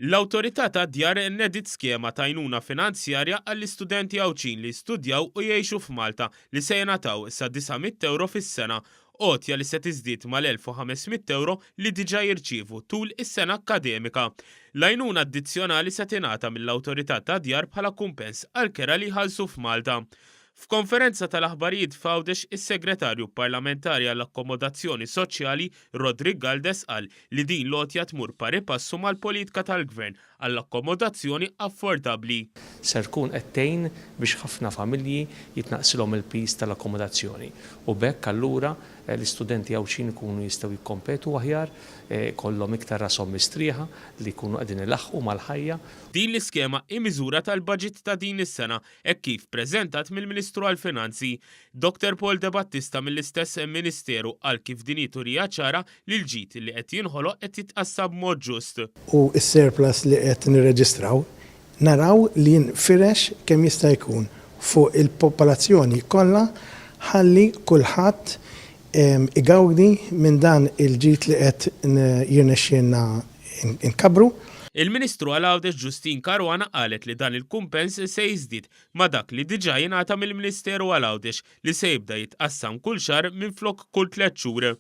L-Awtorità tad-Djar nediet skema t'għajnuna finanzjarja għall-istudenti Għawdxin li jistudjaw u jgħixu f'Malta li se jingħataw sa 900 ewro fis-sena, għotja li se tiżdied mal-1,500 ewro li diġà jirċievu tul is-sena akkademika. L-għajnuna addizzjonali se tingħata mill-Awtorità tad-Djar bħala kumpens għall-kera li jħallsu f'Malta. F'konferenza tal-aħbarijiet f'Għawdex is-Segretarju Parlamentari għall-Akkomodazzjoni Soċjali, Roderick Galdes qal li din l-għotja tmur pari passu mal-politika tal-Gvern għall-akkomodazzjoni affordabbli. Ser tkun qed tgħin biex ħafna familji jitnaqqsilhom il-piż tal-akkomodazzjoni u b'hekk allura l-istudenti Għawdxin ikunu jistgħu jikkompetu aħjar, ikollhom iktar rashom mistrieħa li jkunu qegħdin ilaħħqu mal-ħajja. Din l-iskema hi miżura tal-baġit ta' din is-sena hekk kif preżentat mill-Ministru għall-Finanzi, Dr Paul Debattista mill-istess Ministeru qal kif din hi turija ċara li l-ġid li qed jinħoloq qed jitqassam b'mod ġust. u s-surplus li qed nirreġistraw naraw li jinfirex kemm jista' jkun fuq il-popolazzjoni kollha ħalli kulħadd igawdi minn dan il-ġid li qed jirnexxielna nkabbru. Il-Ministru għal Għawdex Justyne Caruana qalet li dan il-kumpens se jiżdied ma' dak li diġà jingħata mill-Ministeru għal Għawdex li se jibda jitqassam kull xahar minflok kull tliet xhur.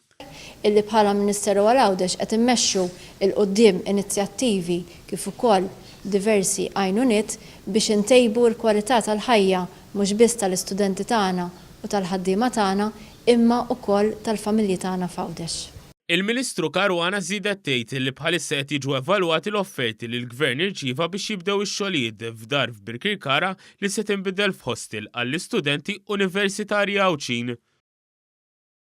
illi bħala Ministeru għal Għawdex qed immexxu 'l quddiem inizjattivi kif ukoll diversi għajnuniet biex intejbu l-kwalità tal-ħajja mhux biss tal-istudenti tagħna u tal-ħaddiema tagħna imma ukoll tal-familji tagħna f'Għawdex. Il-Ministru Caruana żiedet tgħid li bħalissa qed jiġu evalwati l-offerti li l-Gvern irċieva biex jibdew ix-xogħlijiet f'dar f'Birkirkara li se tinbidel f'hostel għall-istudenti Universitarji Għawdxin.